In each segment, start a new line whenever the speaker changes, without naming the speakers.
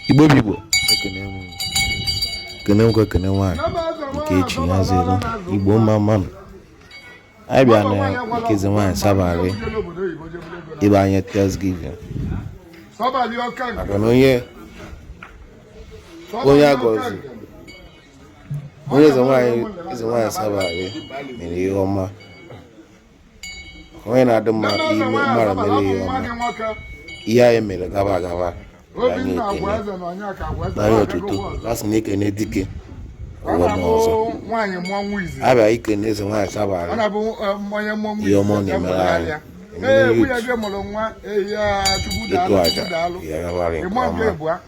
igbo bụ igbo ekene m ekene nwoke ekene nwaanyị nke chi ya ziri igbo mma mma nụ anyị bịa na nke eze nwaanyị sabali ịbịa nye thanksgiving maka na onye onye agọzi onye eze nwaanyị eze nwaanyị sabali mere ihe ọma onye na-adị mma ime mara mere ihe ọma ihe anyị mere gaba gaba anyị ekene nye ya otuto a sị na e kene dike o mee ọzọ a bịa ikene eze nwaanyị sabali ihe ọma ọ na-emere anyị ịtụ aja ya gabara nke ọma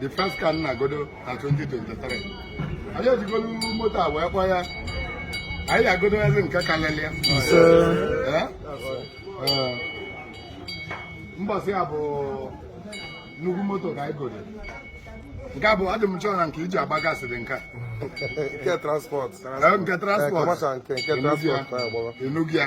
the first car nna godo na 2023 anyị ejigolu moto a wee kpọ ya anyị agodozi nke kalịlị ya mbọsị ya bụ nnukwu moto ka anyị godo nke bụ adị m chọọ na nke iji agba gasị dị nka nke
transport nke transport
enugwu ya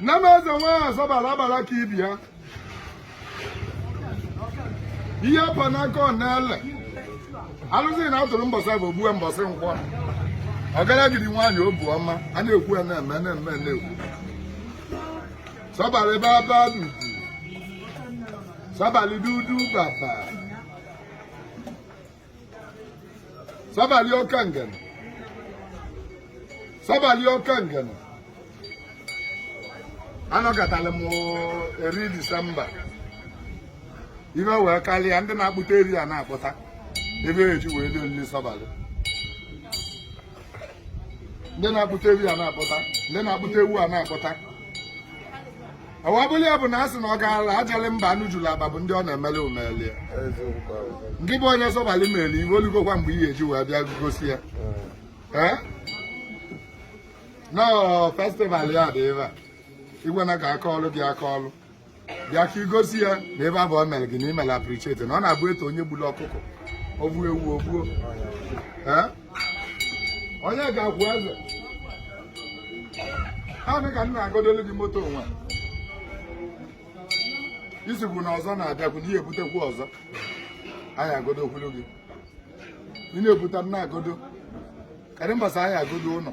nne m eze nwaanyị sabali agbara ka ibe ya ihe pa n'aka ọ na-ele alụsị na atụrụ mbọsị bụ ogbue mbọsị nkwọ ọgaragidi nwaanyị obu ọma a na-ekwu ya na-eme na-eme na-ekwu sabali baba dudu sabali dudu baba Sabali oke Ngene. Sabali oke Ngene. Anọgatala m every Disemba. Ihe wee karịa ndị na-akpụta ehi a na-akpụta. Ebe e ji wee dị olili Sabali. Ndị na-akpụta ehi a na-akpụta. Ndị na-akpụta ewu a na-akpụta. ọwabụli ya bụ na a sị na ọ gaala ajali mba anụ juru aba bụ ndị ọ na-emeli umeli ya nke bụ onye sọbali meli ihe o lugokwa mgbe ị ya-eji wee bịa gosi ya Eh? na ọ festival ya dị ebe a igwe na ka aka ọlụ gị aka ọlụ bịa ka i gosi ya na ebe a bụ ọ mere gị na i mere appreciate na ọ na-abụ e too onye gburu ọkụkọ o gbuo ewu o gbuo ehi onye ga-akwụ eze nwaanyị ka m na-agodolu gị moto onwe isigbu na ọzọ na-abịakwu na ihe ebutekwu ọzọ anyị agodokwulu gị ị na-ebute m na-agodo karị mbasa anyị agodo ụlọ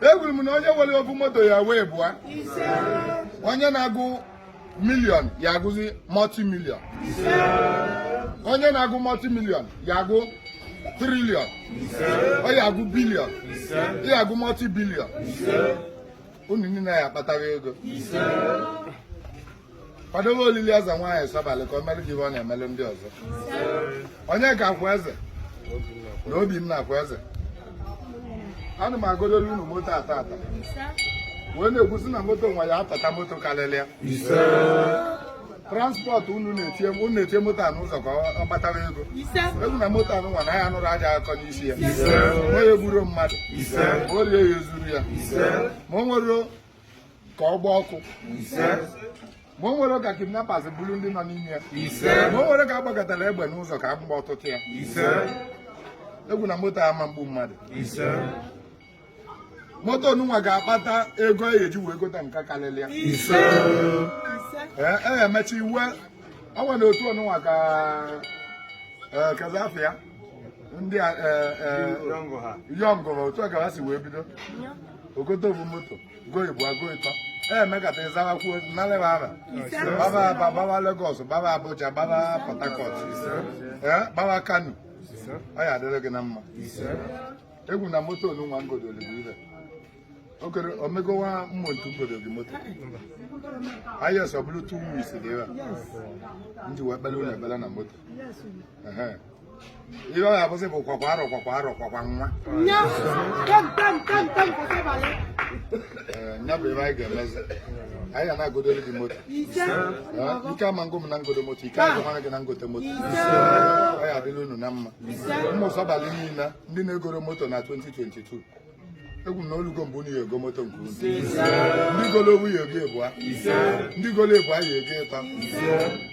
ekwuru m na onye nwere ofu moto ya nwee ịbụa onye na-agụ milion ya agụzi multi milion onye na-agụ multi milion ya agụ trilion ọ ya agụ bilion ya agụ multi bilion unu niile ya-akpata ego kwadobe olili eze nwaanyị Sọbalị ka o mere gị ihe ọ na-emelu ndị ọzọ onye ka akwa eze na obi m na-akwa eze ana m agodolu unu moto taata wee na-ekwusi na moto nwa ya atata moto karịrị ya transport unu na-etinye unu na-etinye moto a n'ụzọ ka ọ kpatara ego ekwu m na moto onunwa na ya nụrụ ajọ akụkọ n'isi ya ma ya egburo mmadụ ma o rie ya ezuru ya ma o nwere ka ọ gbaa ọkụ ma o nwere ka kidnappers buru ndị nọ n'ime ya ma o nwere ka a gbagatara egbe n'ụzọ ka agba ọtụtụ ya ekwu m na moto ama mgbu mmadụ moto onunwa ga-akpata ego e eji wee gota nke karịrị ya ee e emecha iwe ọ nwere otu onunwa ka e, kazafe ya ndị a Young ha otu a ka ha si wee bido o gote ovu moto go ịbụọ ago ịtọ emekata ịzawa kwuo naleba ara gbaba Aba gbaba Lagos gbaba Abuja gbaba Port Harcourt gbaba Kano ọ ya-adịrị gị na mma ekwu m na moto onunwa ngodoli bụ ibe okere omegowa mmụ ngodo gị moto ahịa sọ bụrụ two weeks dị ebe a m ji wee kpeere unu ekpere na moto Ehe. ihe ọ ga-abụzi bụ kwakwa arọ kwakwa arọ kwakwa nwa Ee, ya bụ ebe anyị ga-emezi anyị ga na-agodoro gị moto Ee, ike ama ngụ m na ngodo moto ike agụmara gị na ngote moto ọ ya-adịlị unu na mma ụmụ sọbalị niile ndị na-egoro moto na 2022 ekwu m na o lugo mgbe unu ya-ego moto nke unu ndị golo ovu ya-ego ịbụa ndị golo ịbụa ya-ego ịtọ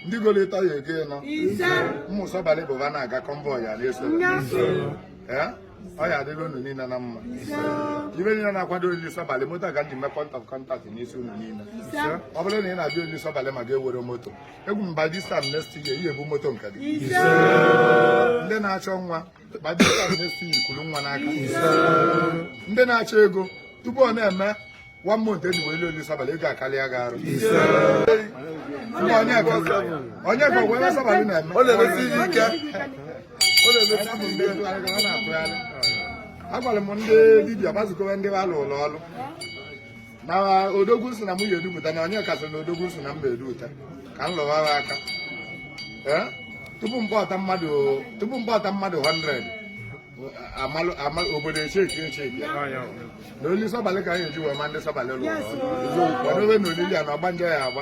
ndị golo ịtọ ya-ego ịnọ ụmụ sọbalị pụba na-aga convoy ana-eso ee ọ ya-adịlị unu niile na mma ibe niile na-akwado olili sọbalị moto a ka m ji mee point of contact n'isi unu niile ọ bụrụ na ị na-abịa olili sọbalị ma ị ka enwero moto ekwu m by this time next year i ya-ebu moto nke gị ndị na-achọ nwa ndị na-achọ ego tupu ọ na-eme one month eji wee olili sọbalị ego akarịa gị arụ onye ka wee sọbalị na-eme agwara m ndị dibia gbazukọwa ndị a lụụlụ ọrụ na odogwu si na m ya edupụta na onye kasị na odogwu si na m edupụta ka m lụwara aka tupu m kpọta mmadụ tupu m kpọta mmadụ 100 obodo echeki echeki na olili sọbalị ka anyị eji wee ma ndị sọbalị lụrụ ọrụ ọdụwe na olili a na ọgbanje ya-agba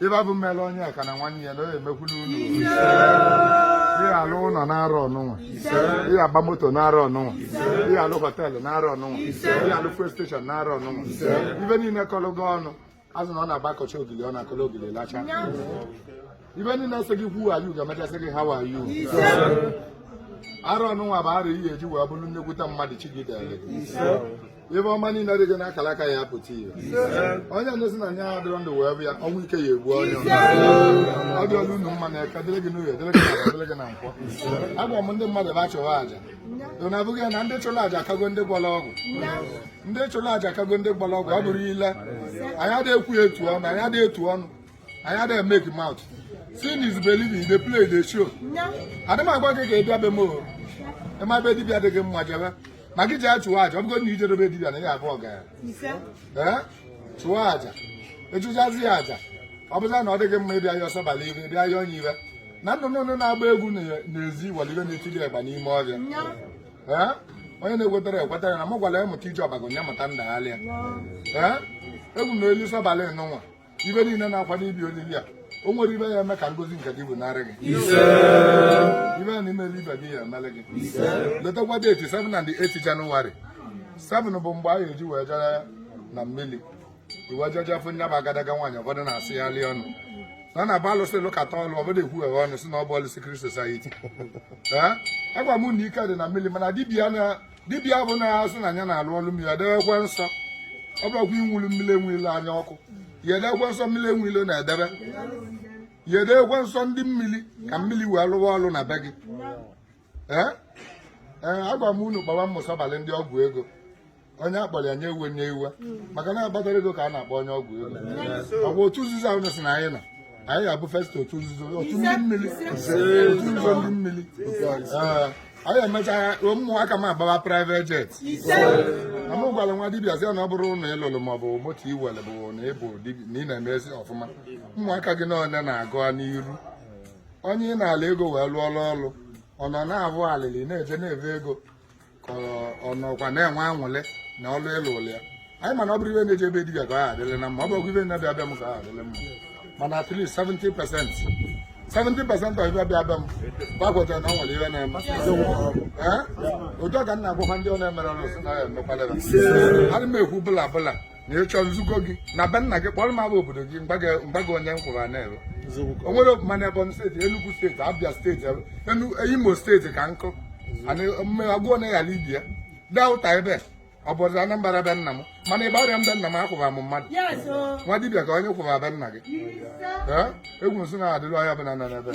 ibe bụ mmele onye ka na nwanne ya na ọ ya-emekwulu unu ị ya-alụ ụlọ n'arọ nụnwa ị ya-agba moto n'arọ nụnwa ị ya-alụ họteelụ n'arọ nụnwa ị ya-alụ fuel steshọn n'arọ nụnwa ibe niile kọlụ gị ọnụ azụ na ọ na-agba akọcha ogili ọ na-akọlụ ogili lacha ibe niile sị gị who are you ga-emecha sị gị how are you arọ nụnwa bụ arọ ị ya-eji wee bụrụ nnekwute mmadụ chi gị dere ibe ọma niile dị gị n'akara aka ya-apụta ihe onye ndozi na anya adịrọ ndụ wee bịa ọnwụ ike ya-egbu onye ọ dịrị unu mma na eke dịrị gị n'orie dịrị gị na dịrị gị na nkwọ agwa m ndị mmadụ ba achụwa aja na abụghị na ndị chụrụ aja akago ndị gwọrọ ọgwụ ndị chụrụ aja akago ndị gwọrọ ọgwụ ọ bụrụ ile anyị adịghị ekwu etu ọnụ anyị adịghị etu ọnụ anyị adịghị make mouth seeing is believing dey play dey show adị m agwa gị ka ị bịa be m o ị ma ebe dibịa dị gị mma jebe ma gị jee chụwa aja ọ bụgo na i jede be dibịa na ị ga-abụ ọgaranya ee chụwa aja ị chụchazi ya aja ọ bụza na ọ dịghị mma ịbịa ya ọsọ bala ibe ịbịa ya onye ibe na nnụnụ nnụnụ na-agba egwu na- n'ezi nweli ibe na-etiri ịgba n'ime ọbịa ee onye na-ekwetara ekwetara na m gwara ya mụta ije ọbago ya mụta ndagharịa ee egwu na olili sọbalị nụnwa ibe niile na-akwado ịbịa olili a o nwere ibe ya-eme ka ngozi nke gị bunarị gị ibe a na-emere ibe gị ya-emele gị letakwa deeti 7 na 8 janụwarị 7 bụ mgbe a ga-eji wee jere na mmiri i wee jee jee fụ nya bụ agadaga nwaanyị ụfọdụ na-asị ya lie ọnụ na na ba alụsị lụkata ọlụ ọbụla ekwughewe ọnụ sị na ọ bụ ọlụ secret society agwa m na ike dị na mmiri mana dibia na dibịa ọbụna sị na ya na-alụ ọlụ mmiri edebekwe nsọ ọ bụrụkwa inwulu mmiri enwile anya ọkụ ya edekwe nsọ mmiri enwile na-edebe ya edekwe nsọ ndị mmiri ka mmiri wee lụwa ọlụ na be gị ee ee agwa m unu kpọwa ụmụ sọbalị ndị ọgwụ ego onye akpọrọ ya ewene iwe maka na akpatara ego ka a na-akpọ onye ọgwụ ego ọ bụ otu nzuzo ahụ na-asị na anyị na anyị ga-abụ first otu nzuzo otu ndị mmiri otu nzuzo ndị mmiri Ee, anyị emechaa ụmụaka m agbaba private jet na mụ gwara nwa dibịa sị ya na ọ bụrụ na ị lụrụ maọbụ moto i nwere bụ na ị bụ dibịa na ị na-emezi ọfụma ụmụaka gị na ole na-aga n'iru onye ị nala ego wee lụọla ọrụ ọ nọ na-abụ alịlị na-eje na-ebe ego ka ọ nọkwa na-enwe anwụlị na ọlụ ị lụlụlụ ya anyị mana ọ bụrụ ibe na-eje ebe dibịa ka ọ adịrị na mma ọ bụrụ ibe na-abịa be m ka ọ adịrị mma mana at least 70 percent 70 percent of ibe abịa be m gbagwetara na o nwere ibe na-eme ụjọ ka m na-agwakwa ndị ọ na-emere ọrụ sị na ya emekwalere adị m ekwu bla bla na ịchọ nzukọ gị na be nna gị kpọrọ m afa obodo gị mgbago onye m kwụrụ n'ebe o nwere ọfụma na Ebonyi steeti Enugu steeti Abia steeti Imo steeti ka nkụ agụọ na ya Rivers Delta ebe ọ bụ ọdịda Anambra be nna m mana ebe ọrịa na be nna m akwụba m mmadụ nwa dibịa ka onye kwụba be nna gị egwu nsị na-adịrị onye ọbụla nọ n'ebe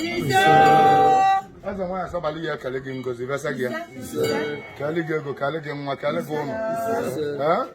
eze nwaanyị asọbala ya ekele gị ngozi besa gị ya kele gị ego kele gị nwa kele gị ụlọ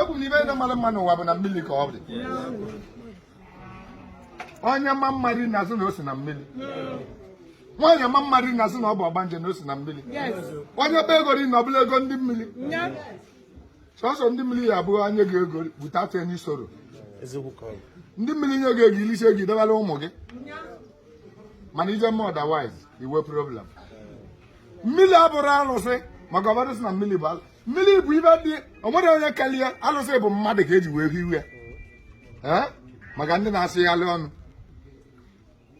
ego na ife ndị mara mma n'ụwa bụ na mmiri ka ọ dị onye ma mma a na-asị na o si na mmiri nwaanyị ma mma a na-asị na ọ bụ ọgbanje na o si na mmiri onye kpa ego sị na ọ bụ ego ndị mmiri sọsọ ndị mmiri ya ebunye gị ego bute atụ enyi soro ndị mmiri nye gị ego i lisie ego i debara ụmụ gị mana ị je mee otherwise i nwee problem mmiri abụrọ arụsị maka ọ bụrụ sị na mmiri bụ mmiri bụ ife dị o nwerọ onye kele ya alụsị bụ mmadụ ka eji wee hiwe ya maka ndị na-asịgharị ọnụ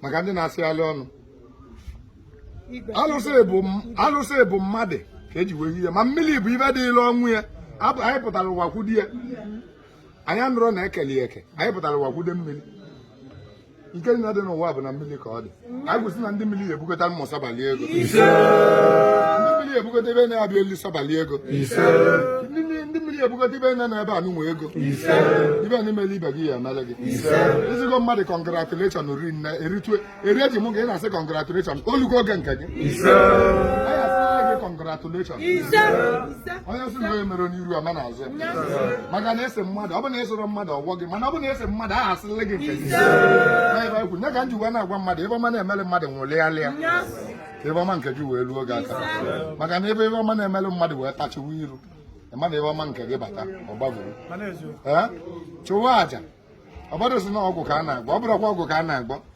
maka ndị na-asịgharị ọnụ alụsị bụ mmadụ ka eji wee hiwe ma mmiri bụ ife dịlị onwe ya anyị pụtara ụwa kwude ya anyị anụrọ na e kele ya eke anyị pụtara ụwa kwude mmiri nke nna dị n'ụwa bụ na mmiri ka ọ dị anyị kwusi na ndị mmiri ebukọta mmụ sabalị ego ndị mmiri ebukọta ebe na-abịa elu sabalị ego ndị mmiri ebukọta ibe na ebe anụnwa ego ife na i mele ibe gị ya emele gị ị sịgo mmadụ congratulation ri nne eritue eri eji mụ gị na-asị congratulation o lugo oge nke gị congratulation onye sị na onye mere onye iru ama n'azụ ya maka na ị sị mmadụ ọ bụ na ị sịrọ mmadụ ọ kọọ gị mana ọ bụ na ị sị mmadụ a ga-asịlị gị nke gị n'ebe ekwu nye ka m ji wee na-agwa mmadụ ife ọma na-emere mmadụ ṅụlịalị ya ka ife ọma nke gị wee ruo gị aka maka na ebe ife ọma na-emere mmadụ wee tachiwa iru ị ma na ife ọma nke gị bata ọ gbagoro ee chụwa aja ọ bụrụ sị na ọgwụ ka a na-agwọ ọ bụrụkwa ọgwụ ka a na-agwọ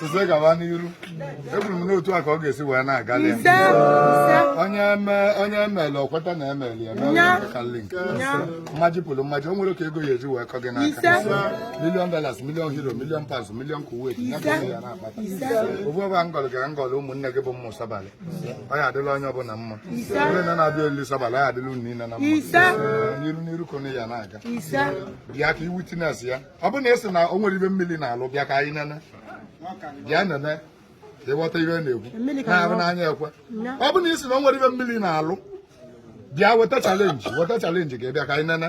sise gaba n'iru ekwuru m n'otu a ka ọ ga-esi wee na-aga onye emele o kweta na emeli emeli kalịlị nke mmaji pụrụ mmaji o nwerọ ka ego ya eji wee kọ gị n'aka million dollars million euro million pounds million Kuwait ya ka ya na-akpata ofu ọba ngọlụ gara ngọlụ ụmụnne gị bụ mmụ sabalị ọ ya adịlị onye ọbụla mma onye na na-abịa olili sabalị ọ ya adịlị unu niile na mma n'iru n'iru ka anyị ya na-aga bịa ka ị witness ya ọ bụ na ị sị na o nwerọ ife mmiri na-alụ bịa ka anyị nene bịa nene ịghọta ihe na-ekwu na ahụ n'anya ekwe ọ bụ na ị sị na o nwerọ ife mmiri na-alụ bịa weta challenge weta challenge ka ị bịa ka anyị nene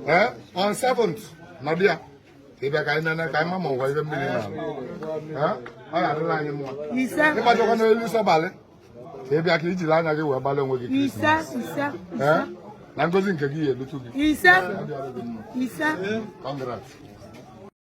ee on seventh na bịa ka ị bịa ka anyị nene ka anyị ma ma ụwa ife mmiri na-alụ ọ ga-adịlị anyị mma ịgbajọkwa n'elu sọbalị ka ị bịa ka i jiri anya gị wee gbalị onwe gị na ngozi nke gị ya elutu gị ise ise